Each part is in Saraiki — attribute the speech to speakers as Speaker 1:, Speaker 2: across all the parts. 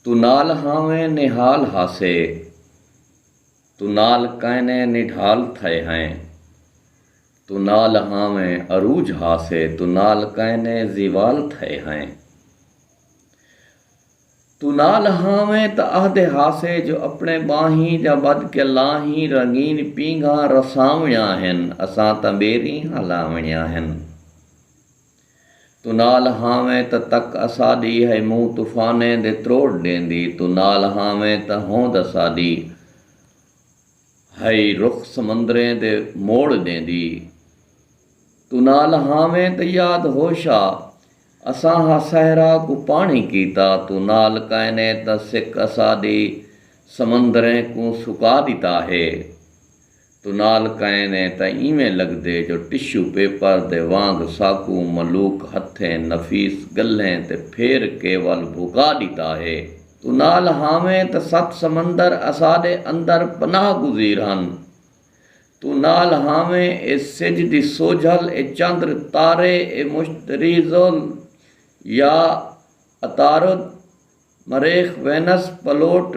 Speaker 1: توں نال ہاویں نہال ہاسے۔ توں نال کائنے نڈھال تھئے ہائیں۔ توں نال ہاویں عروج ہاسے۔ توں نال کائنے زیوال تھئے ہائیں۔ توں نال ہاویں تاں اہدے ہاسے جو اپنے ٻانہیں جاں ٻدھ کے لاہیں رنگین پینگھاں رساونیاں ہن اساں تاں ٻیریں ہلاونیاں ہن۔ توں نال ہاویں تاں تک اساݙی ہئی مونہہ طوفانیں دے تروڑ ݙیندی توں نال ہاویں تاں ہوند اساݙی ہئی رخ سمندریں دے موڑ ݙیندی توں نال ہاویں تاں یاد ہوش آ اساں ہا صحرا کوں پاݨی کیتا توں نال کائنیں تاں سک اساݙی سمندریں کوں سکا ݙتا ہے توں نال کئین اے تاں ایویں لگدے جو ٹشو پیپر دے وانگ ساکوں ملوک ہتھیں نفیس گلھیں تے پھیر کے ول بھکا ڈیتا ہے۔ توں نال ہاویں تاں ست سمندر اساڈے اندر پناہ گزیر ہن۔ توں نال ہاویں اے سجھ دی سوجھل، اے چندر تارے، اے مشتری زل یا عطارد، مریخ، وینس، پلوٹ،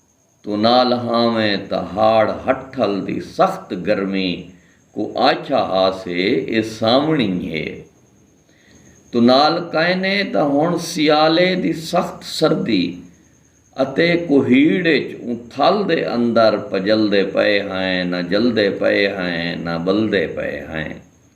Speaker 1: توں نہ لہاویں تہاڑ ہٹھل دی سخت گرمی کوں آکھیا ہا سے اے سانوݨی ہے توں نال کائنے تاں ہݨ سیالے دی سخت سردی اتے کوہیڑ اچ اوں تھل دے اندر پڄلدے پئے ہئیں نہ جلدے پئے ہئیں نہ ٻلدے پئے ہئیں۔